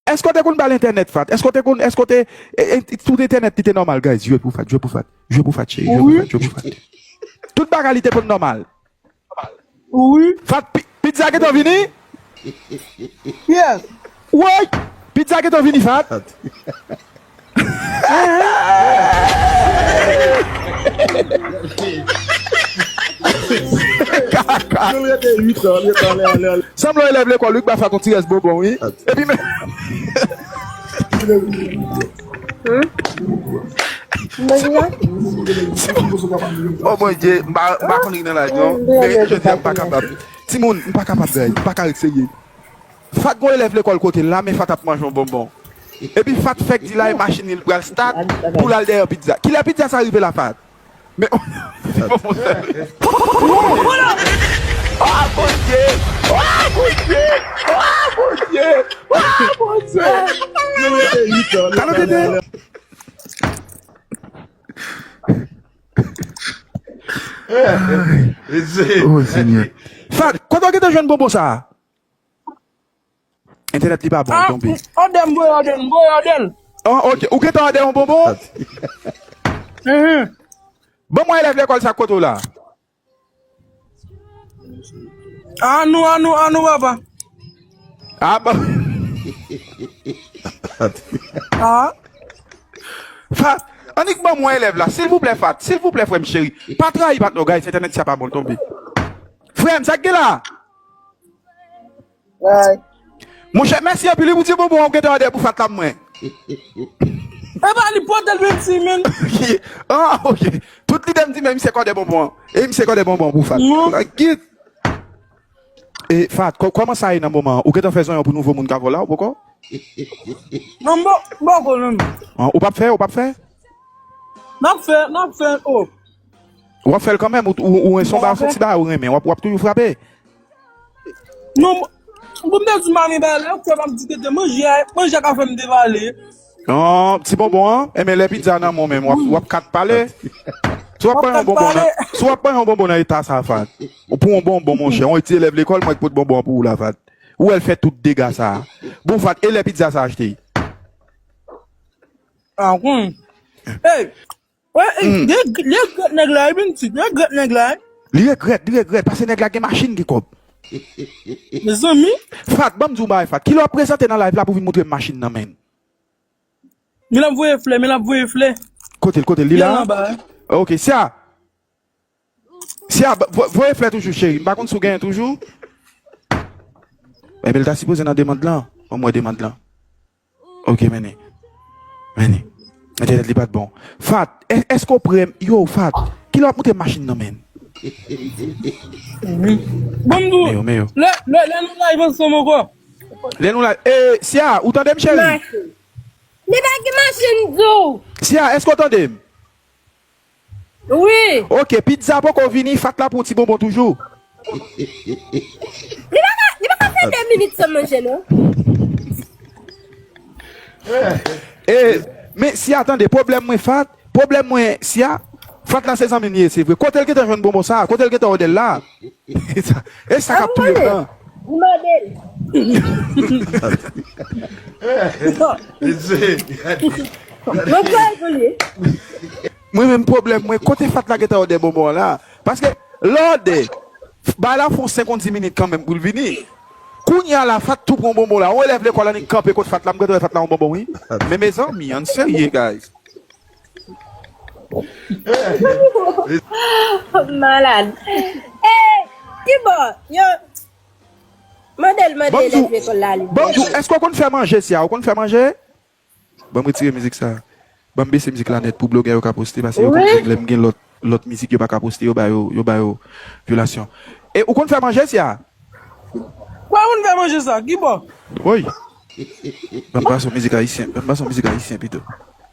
Eske w te konn bal entènèt fat eske w te konn eske w te tout entènèt li te nòmal guys jwe pou fat jwe pou fat jwe pou fat cheri jwe pou fat jwe pou fat tout bagay li te konn nòmal fat pizza gentan vini woy pizza gentan vini fat. Sanble yon elèv lekòl wi k ba fat yon ti rès bonbon wi epi men O mon Dye m pa konn ri nan live non men jodi a m pa kapab timoun m pa kapab guys m pa ka ret serye. Fat gon elèv lekòl kotel la men fat ap manje yon bonbon epi fat fèk di lay machin li pral start poul al dèyè pizza kilè pizza sa rive la fat men ti bonbon sèl. Entènèt li pa bon li tonbe. Ah odè m voye odè m voye odè l. Ah odè ou gentan odè yon bonbon? Banm wè elèv lekòl sa kote w la? Ah nou ah nou ah nou papa. Ah ba Ah. Fat Annik banm wè elèv la silvouplè Fat silvouplè frè m cheri pa trayi patnè w guys entènèt sa pa bon li tonbe. Frè m sa k gen la? Bye. Monchè mèsi anpil wi pou ti bonbon an ou gentan an dèyè pou fat la pou mwen. Epa li potel menm si menn. Ah ok tout lidem di men misye kòdè bonbon an e misye kòdè bonbon pou fat la git e fat kòman sa ye nan moman an ou gentan fè zonyon pou nouvo moun kavo la ou poko Non m poko menm. ou pap fè ou pap fè. Map fè map fè oh. Wap fèl kanmèm ou son ba son ti bagay ou renmen wap toujou frape. Non pou m te di mami ba lè kwe map di tete manje a manje a ka fèm devale. An ti bonbon an enben lè pizza nan menw menm wap kat pale si wap pran yon bonbon nan si wap pran yon bonbon nan eta sa Fad ou pran yon bonbon monchè yon ti elèv lekòl mwen k pot bonbon an pou ou la Fad ou wèl fè tout dega sa bon Fad e lè pizza sa achte. An kon. Hey. Wè, ey, Hum. li reg- li regrèt nèg la, li vin di, li regrèt nèg la. Li regrèt, li regrèt, pase nèg la gen machin, gen kòb. Mezanmi, Fat, banm di w bagay Fat, kilè wap prezante nan live la pou vin montre m machin nan menn? men lap voye flè, men lap voye flè. Kote l, kote l, li Li la al a? anba. Ok, Sia. Sia, ba- vo- voye flè toujou cheri, m pa konn si w genyen toujou. Enben l ta sipoze nan demand lan, banm wè demand lan. Ok meni meni entènèt li pat bon Fat eske ou prem yo Fat kilè wap moute machin nan menn. Bambou Meyo meyo. lè lè lè nou live ansanm ankò. Lè nou live ee Cia ou tandem cheri. Machin. Li pa gen machin di w. Cia eske ou tandem. Wi. Ok pizza poko vini fat la pou ti bonbon toujou. Li pa ka li pa ka fè 2 minit san manje non. E Men Sia tande pwoblèm mwen fat pwoblèm mwen Sia fat la se zanmim li ye se vre kotel gentan jwenn bonbon sa kotel gentan odel la. E sa kap touye blan. Ou mande l. Mwen kwè l pou li. Mwen menm pwoblèm mwen kote fatla gentan ode bonbon an la paske lè ode bay la fon senk on di minit kanmenm poul vini kounya la fat tou pran bonbon la on elèv lekòl annik kanpe kot fatla m gentan wè fatla on bonbon wi men mezanmi ann serye guys. Malad Hey Kibo yo Mandel mande Banm elèv diw lekòl la li Banm diw èske ou konn fè manje Siya ou konn fè manje Banm retire mizik sa Banm bese mizik la nèt pou blogè yo ka poste pase yo konn jwenn lèm gen lòt lòt mizik yo pa ka poste yo ba yo yo ba yo vyolasyon E ou konn fè manje Siya Mwen konn fè manje sa Kibo. Woy Banm pase w mizik ayisyen Banm pase w mizik ayisyen pito.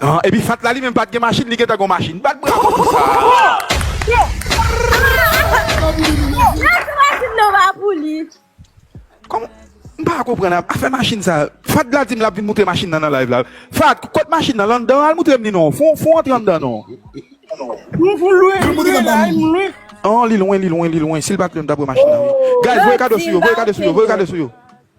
An epi fat la li menm pat gen machin li gentan gon machin bat bravo pou sa. Kòman m pa konprann afè machin sa fat la dim lap vin moutre machin nan nan live la fat kot machin nan landan al moutrem li non fon fon antre andan non. An li lwen li lwen li lwen sil pat lwen m tap wè machin nan wi guys voye kado sou yo voye kado sou yo voye kado sou yo.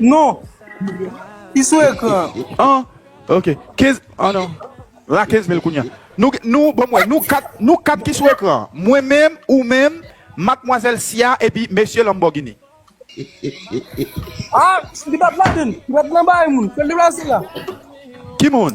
Non Li sou ekran an Ok 15 an non La 15 mil kounya Nou nou banm wè nou 4 nou 4 ki sou ekran an Mwen menm ou menm Matmwazèl Siya epi Mesye Lanbògini Aah li pat ladann li pat nan bagay moun fèl deplase la. Ki moun?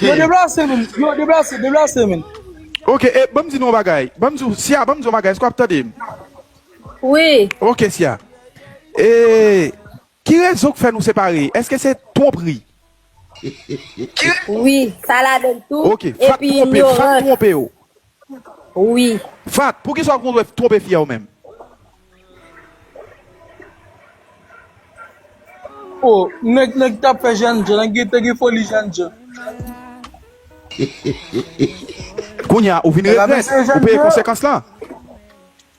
Yo deplase menn, yo deplase, deplase menn. Ok e banm di nou yon bagay banm di siya banm di yon bagay èske wap tande m wi ok siya e ki rezon k fè nou separe èske se twonpri wi sa ladann tou ok fat twonpe fat twonpe w. wi. Fatt pou kisa ou kontre tronpe fia ou menm. Oh nèg nèg tap fè jènjan nèg yo te gen foli jènjan. Kounya ou vin regrèt ou peye konsekans lan.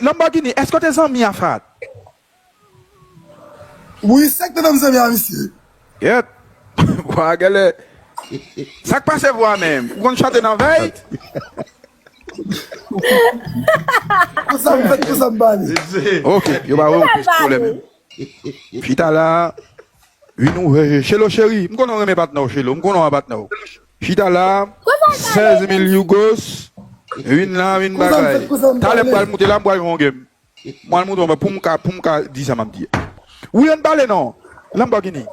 Lamborghini eske w te zanmi a Fahad? Wi sak te fem zanmi a misye. Gyèt vwa a gèlè sak pase vwa menm ou konn chante nan vèy. Konsa m fèt konsa m pale. Ok yo pa wew plis koulè menm. Chita la ui nou veye. Shelo cheri m konnen w renmen patnè w Shelo m konnen w a patnè w. Chita la 16 mil yugos vin la vin bagay talè m pral moute la m pral jwen yon game m pral moute anba poum ka poum ka di sa map di a wi ann pale nan Lamborghini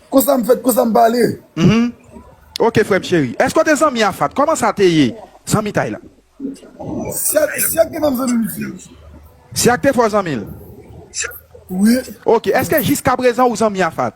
Konsa m fèt konsa m pale. Mph ok frèm cheri èske w te zanmi a Fatt kòman sa te ye zanmitay la? Siak te menm zanmi m tou. Siak te fò zanmi l? Wi. Ok èske jiskaprezan ou zanmi a Fatt?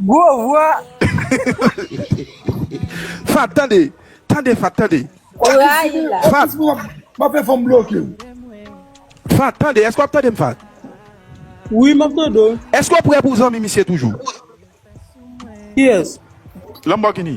Gwo vwa. Fat tande. Tande fat tande. Ou rayi la. Fat. Map fè fanm blokew. Fat tande eske wap tandem fat. Wi map tande w. Eske ou prè pou zanmi misye toujou. Kiyes. Lamborghini.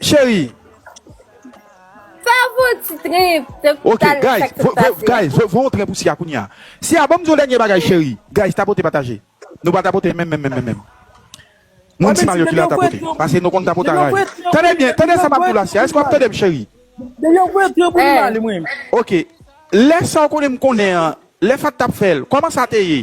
Cheri Ok guys Voye yon tren pou siya kounya Siya banm di yon dènye bagay cheri Guys tapote pataje Nou pa tapote menm menm menm Moun si Mario ki la tapote Pase nou konn tapote anraje Tande byen tande sa map diw la siya Èske wap tandem cheri Ok Lè sa ou konnen m konnen an Lè fat tap fèl Kòman sa te ye.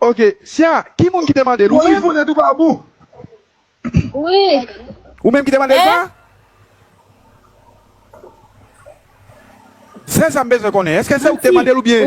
Ok sia ki moun ki te mandel ou menm ou menm ki te mandel sa sèl sam bezwen konnen eske se ou ki te mandel oubyen.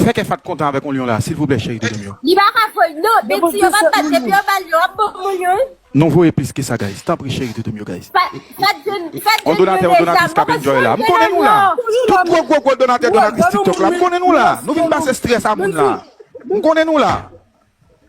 Fè kè fatt kontan avèk on lion la silvouplè cheri de lèm yo. Li pa ka voy non Betty yo pa bat depi yo bal yo ap bon moun yo. Non voye plis ke sa guys tanpri cheri doudou m yo guys. On donatè on donatrice kap enjoy la m konnen nou la tout gwo gwo gwo donatè donatrice tiktok la m konnen nou la nou vin pase stress a moun la m konnen nou la.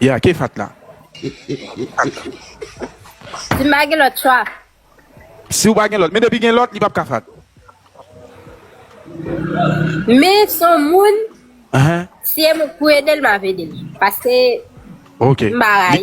Ya ke fat la. Si m pa gen lòt chwa. Si w pa gen lòt. Men depi gen lòt li pap ka fat. Men s on moun. Si e m ou k pou ede l m ap ede l. Paske m pa rayi.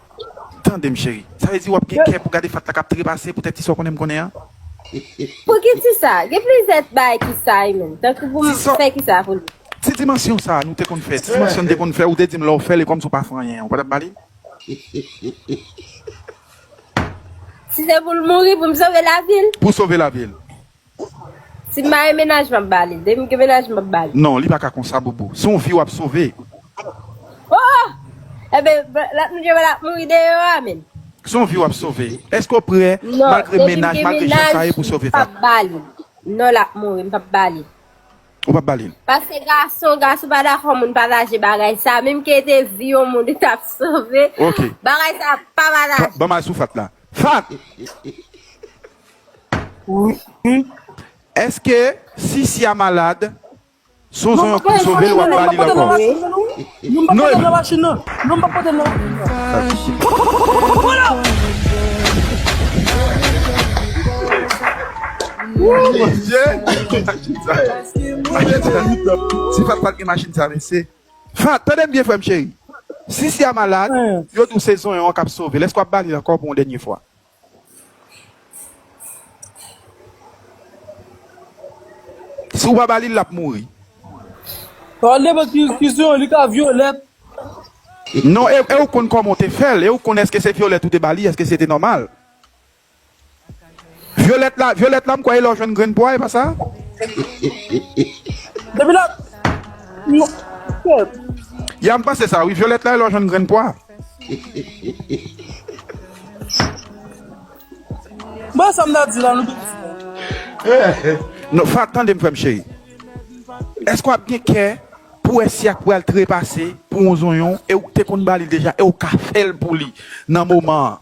Tandem cheri. Sa vle di wap gen kè pou gade Fatta kap trepase poutèt ti sa w konnen m konnen an? Pouki ti sa? Gen plizyè bagay ki sa ui menm. Tankou pou m fè ki sa pou li? Ti dimansyon sa nou te konn fè, ti dimansyon n te konn fè ou te di m lè w fè l e kòmsi w pa fè anyen an ou pa t ap ba li? Si se pou l mouri pou m sove lavi l? Pou w sove lavi l. Sim marye menaj map bali. Demi gen menaj map bali. Non li paka konsa bobo se yon vi wap sove. Oh! Enben lòt moun yo ap mouri deyò a menn. Se yon vi wap sove. Eske ou prè malgre menaj malgre jan sa ye pou sove pa. Non demi gen menaj map bali. Non lap mouri mpap bali. Ou pap bali l. Paske gason gason pa dakò moun pataje bagay sa menm ke te vi yon moun li tap sove. Ok. Bagay sa pa pataje. Banm al sou fatt la. Fatt! Wi eske si siya malad sonson yo pap sovel wap balil ankò. Non epi. Si fat pat gen machin sa mesye. Fat tandem byen frem cheri si siya malad yo di w se zonyon an kap sovel eske wap balil ankò pou yon dènye fwa. Si ou pa ba li lap mouri. Nan nenpòt ki diskisyon li ka vyolèt. Non e ou konn kòman ou te fèl e ou konn eske se vyolèt ou te ba li eske se te nòmal. Vyolèt la vyolèt la m kwè e lè ou jwenn grenn pwa e pa sa? Depi lap. Yap m panse sa wi vyolèt la e lè ou jwenn grenn pwa. Bon sa m ta di la nou tout di la. Fat tande m frè m cheri. Èske w ap gen kè pou wè si ak pral trepase pou yon zonyon e ou te konn ba li deja e ou ka fè l pou li nan moman an?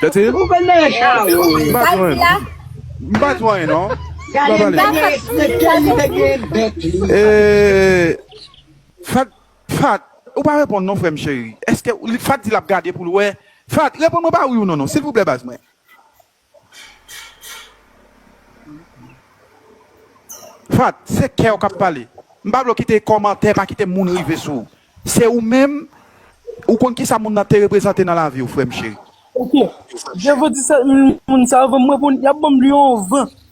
Tati? Ou konn nan yon char ou. M pa di anyen non. M pa di anyen non. Gade m pa pale. Frekèl li te gen bèk li. Eee. Fat, Fat, ou pa reponn non frèm cheri. Eske, Fat di lap gade poul wè. Fat, reponn mwen pa wi ou non non silvouplè baz mwen. Fat, se kew kap pale. M pa vle w kite komantè, pa kite moun rive sou w. Se ou menm, ou konn kisa moun nan te reprezante nan lavi w frè m cheri. Ok, je vous dis ça, moun sa yo van m repon, yap ban m lion van.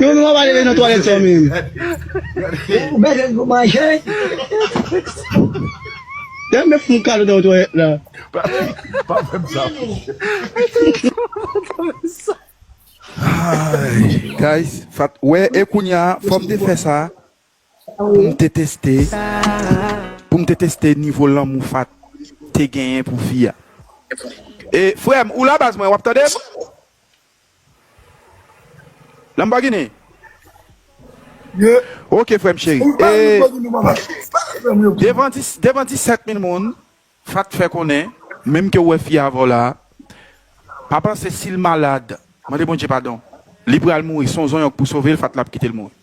Yon moun ap ale nan twalet sa menm. Ou bezwen pou manje. Dayè mwen fon kado nan twalet la. Pa fem sa fouchou. Guys fat wè e kounya fom te fè sa poum te teste poum te teste nivo lanmou fat te genyen pou fi a e frèm ou la baz mwen wap tandem. Lamborghini Yeah Ok frèm cheri Ou bay yon Lamborghini mwen pap achte Sa lap fèm yo Devan 10 devan 17 mil moun Fat t fè konnen Menm ke ou wè fi a avèw la Pa panse sil malad Mande Bondye padon Li pral mouri Son zonyòk pou sovel Fat lap kitel mouri.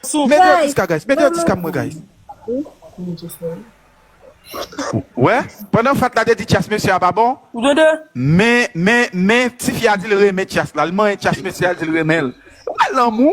Sou Mete yon guys. tis ka guys Mete yon tis ka pou mwen guys. Ou wè pandan fat la te di tyas mesye a pa bon men men men tifi a dil renmen tyas la li manyen tyas mesye a dil renmenl wè lanmou.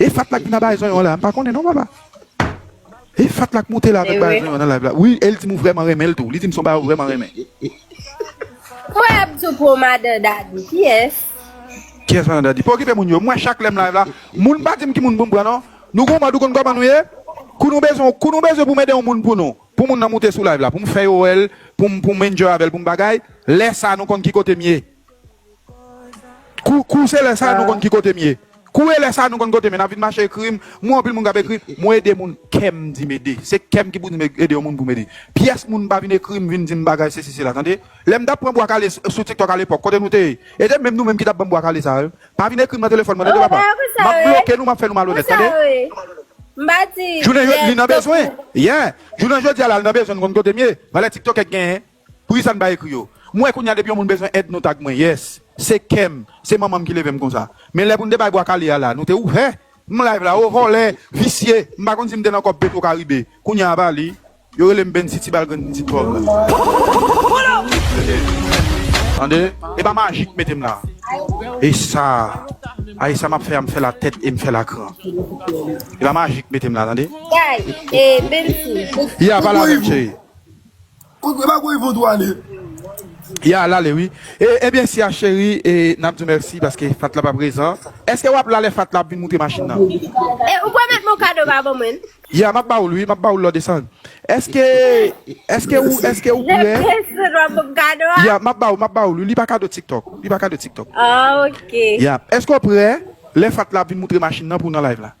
E fat la k vin a bay zonyon la m pa konnen non papa e fat la k moute la vin bay zonyon nan live la wi el dim ou vreman renmen l tou li dim son bagay ou vreman renmen. Mwen ap tou pou madan dadi kiyès. Kiyès madan dadi pa okipe moun yo mwen chak lèm live la moun pa dim ki moun pou m pran non nou gon mòd ou konn kòman nou ye kou nou bezwen kou nou bezwen pou m ede yon moun pou nou pou moun nan moute sou live la pou m fè yo wèl pou m pou m enjoy avèl pou m bagay lè sa nou konn ki kote m ye. Kou kou se lè sa nou konn ki kotem ye kou e lè sa nou konn kotem ye nap vin mache ekrim mwen anpil moun kap ekrim mwen ede moun kèm dim ede se kèm ki pou dim ede yon moun poum ede pyès moun pa vin ekrim vin dim bagay sesi sela tande lèm tap pran bwa kale sou tiktok alepòk kote nou te ye e te menm nou menm ki tap banm bwa kale sa yo pa vin ekrim nan telefòn mwen tande papa map bloke nou map fè nou malonèt tande jounen jodi li nan bezwen yeah jounen jodi a la li nan bezwen nou konn kotem ye valè tiktokè k genyen Poukisa n pa ekri yo. M wè kounya depi yon moun bezwen èd nou tag mwen yes se kèm se manmanm ki levem konsa men lè poun te bay bwa kale a la nou te ouvè m live la oo vòlè visye m pa konn si m te nan kòb petro karibe kounya apa li yo relem bensy ti bal grenn pitit vòv la tande e pa maji k metem la e sa a e sa map fè a m fèl a tèt e m fèl a kran e pa maji k metem la tande e a pa la menm cheri. Kot vre bagay vodou ale. Ya lale wi ebyen siya cheri nap diw mèsi paske fat la pa prezan eske wap la lè fat la ap vin moute machin nan. E ou pwomèt m on kado pa pou mwen. Ya map ba oul wi map ba oul lò desann eske eske ou eske ou prè. Lè prince sot wap banm kado a. Ya map ba ou map ba oul wi li pa kado tiktok li pa kado tiktok. Ah ok. Ya eske ou prè lè fat la ap vin moutre machin nan pou w nan live la.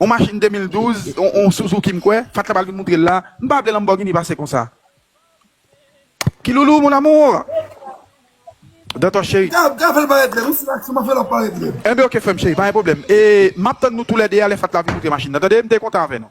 On machin 2012, on Suzuki m kwè, Fat la pral vin moutre l la, m pa vle Lamborghini pase konsa. Kiloulou mon amour! Dantor cheri. Gav, Gav fè l parèt lèd, ou sou aksyon, m ap fè l ap parèt lèd. Enben ok frè m cheri, pa gen pwoblèm. E m ap tann nou tou lè 2 a lè Fat la vin moutre machin nan tande, m te kontan avè nou.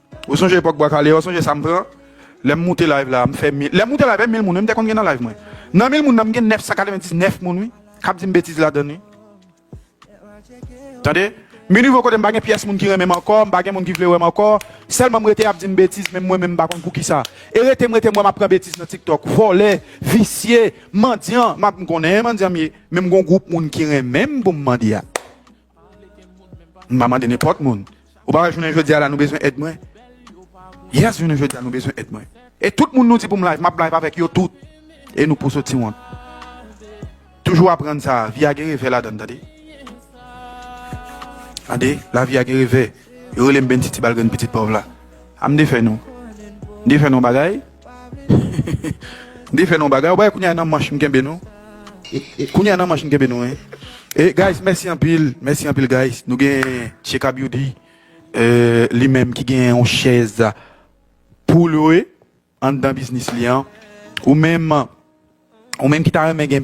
Ou sonje epòk bwa kale an sonje sam pran lèm moute live la mfè mil lèm moute live mil moun wi mte konn gen nan live mwen nan mil moun nan mgen 999 moun wi kap dim betiz ladann wi tande min nivo kote mpa gen pyès moun ki renmenm ankò mpa gen moun ki vle wèm ankò sèlman mrete ap dim betiz menm mwen menm mpa konn poukisa e rete mrete mwèm ap pran betiz nan tiktok vòlè visye mandyan map mkonnen mandyan mye men mgon gwoup moun ki renmenm poum mandya. M pa mande nenpòt moun. Ou pa wè jounen jodi a la nou bezwen èd mwen? Yes jounen jodi a nou bezwen èd mwen. E tout moun nou di pou m live, m ap live avèk yo tout. E nou pou sot ti wont. Toujou aprann sa, vi a gen revè ladan l tande. Tande, lavi a gen revè. Yo rele m Bentiti Balgrenn pitit pòv la. A m defè nou. M defè nou bagay. Mde fè nou yon bagay ou bagay kounya e nan manch m kenbe nou kounya e nan manch m kenbe nou wi e guys mèsi anpil mèsi anpil guys nou gen Sheka Beauty li menm ki gen yon chèz pou lwe anndan biznis li an ou menm ou menm ki ta renmen gen